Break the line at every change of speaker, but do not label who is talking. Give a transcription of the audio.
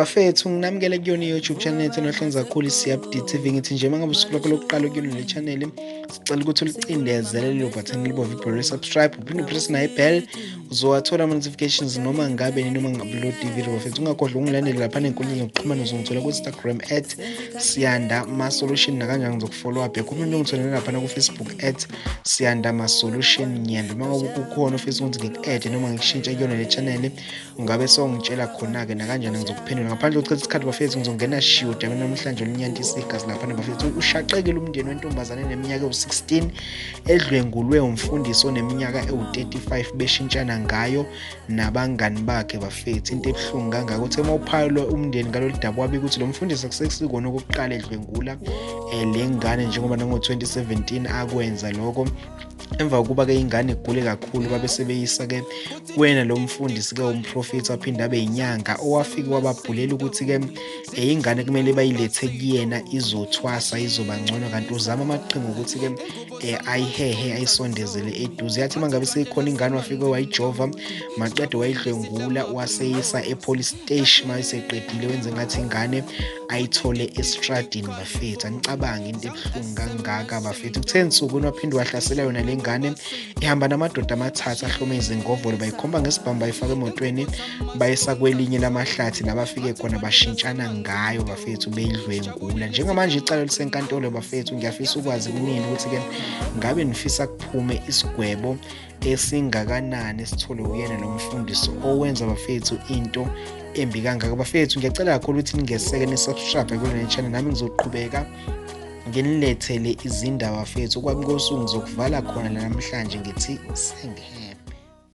bafethu nginamukele kuyona i-youtube channel yethu enohlonza kakhulu i-cfd tv ngithi nje mangabe usuku lwakho lokuqala ukuyona le channel sicela ukuthi ulicindezele lelo bhathani libove ibholo subscribe uphinde upress nayo ibhel uzowathola ama-notifications noma ngabe noma ngi-upload i-video bafethu ungakhohlwa ungilandele lapha nenkundla zokuxhumana uzongithola ku-instagram at siyanda masolution nakanjani ngizokufollow up yakho umuntu ungitholele laphana kufacebook at siyanda masolution ngiyanda uma ngabe kukhona ofisa ukuthi ngiku-ede noma ngikushintshe kuyona le chanele ungabe songitshela khona-ke nakanjani ngizokuphendula ngaphandle kokuchitha isikhathi bafethu ngizongena shiyo dambe namhlanje olunyanti isigazi laphana bafethu ushaqekile umndeni wentombazane neminyaka ewu-16 edlwengulwe umfundisi oneminyaka ewu-35 beshintshana ngayo nabangani bakhe bafethu into ebuhlungu kangaka uthe uma uphayelwe umndeni ngalolu daba wabika ukuthi lo mfundisi akusesikona okokuqala edlwengula um le ngane njengoba nango-2017 akwenza lokho emva kokuba ke ingane igule kakhulu babe sebeyisa ke kuyena lo mfundisi ke umprofethi waphinde abe yinyanga owafike wababhulela ukuthi ke eh, ingane kumele bayilethe kuyena izothwasa izoba ngcono kanti uzama amaqhinga ukuthi ke eh, ayihehe ayisondezele eduze yathi mangabe seyikhona ingane wafike wayijova maqede wayidlwengula waseyisa epolice station mayiseqedile wenze ngathi ingane ayithole estradini bafethu anicabange into ebuhlungu kangaka bafethu kuthe nsukwini waphinde wahlasela yona le ngane ihamba namadoda amathathu ahlome izingovolo bayikhomba ngesibhamu bayifaka emotweni bayisa kwelinye lamahlathi la bafike khona bashintshana ngayo bafethu beyidlwengula njengamanje icala lisenkantolo bafethu ngiyafisa ukwazi kunini ukuthi-ke ngabe nifisa kuphume isigwebo esingakanani esithole kuyena lo mfundisi owenza bafethu into embi kangaka bafethu ngiyacela kakhulu ukuthi ningeseke nisubscribe kule channel nami ngizoqhubeka nginilethele izindaba fethu kwakunkosuku ngizokuvala khona namhlanje ngithi sengihele